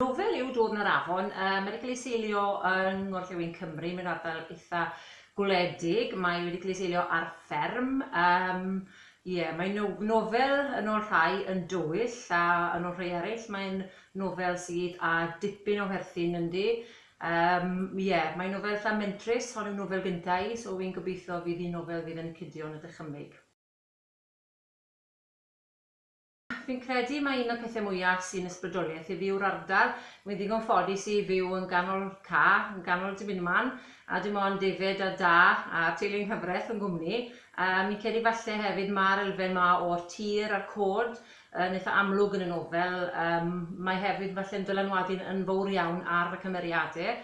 Rhyfel yw dod yn yr afon. Mae wedi cael ei seilio yng ngorllewin Cymru mewn ardal eitha gwledig. Mae wedi cael ei seilio ar fferm. Yym ie, mae'n no- nofel yn ôl rhai yn dywyll a yn ôl rhai eraill mae'n nofel sydd â dipyn o werthin ynddi. Yym ie, mae'n nofel eitha mentrus, hon yw nofel gynta' i so fi'n gobeithio fydd hi'n nofel fydd yn cidio yn y dychymyg. Fi'n credu mai un o'r pethe mwya sy'n ysbrydoliaeth i fi yw'r ardal. Wi'n ddigon ffodus i fyw yn ganol ca, yn ganol Dibyn Man, a dim ond David a Da a teulu'n nghyfreth fy nghwmni. Yym, fi'n credu falle hefyd ma'r elfen 'ma o'r tir a'r côd yn itha amlwg yn y nofel. Yym, mae hefyd falle'n dylanwadu'n yn fowr iawn ar fy cymeriade.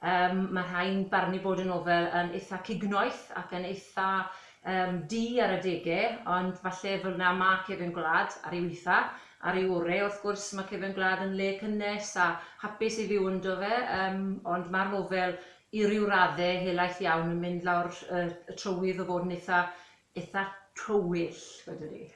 Yym, mae rhai'n barnu bod y nofel yn eitha cignoeth ac yn eitha, yym, du ar adege, ond falle fel 'na ma' Cefn Gwlad ar ei witha. Ar ei ore', wrth gwrs, ma' Cefn Gwlad yn le cynnes a hapus i fyw ynddo fe, yym, ond ma'r nofel i ryw radde helaeth iawn yn mynd lawr y y trywydd o fod yn eitha eitha tywyll, wedwn i.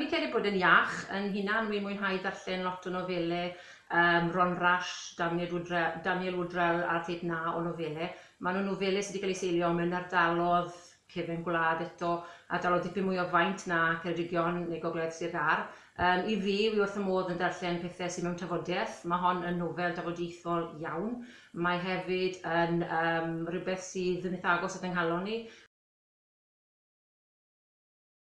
Fi'n credu bod e'n iach yn hunan, wi'n mwynhau darllen lot o nofelau yym Ron Rash, Dafniad Woodre- Daniel Woodrell a'r Theip 'Na o Nofelau. Maen nhw'n nofelau sy' 'di cael eu seilio mewn ardalodd cefn gwlad eto, ardalodd dipyn mwy o faint na Ceredigion neu Gogledd Sir Gâr. Yym i fi, wi wrth fy modd yn darllen pethe sy' mewn tafodiaeth. Ma' hon yn nofel dafodieithol iawn. Mae hefyd yn yym rywbeth sydd yn itha agos at 'y nghalon i.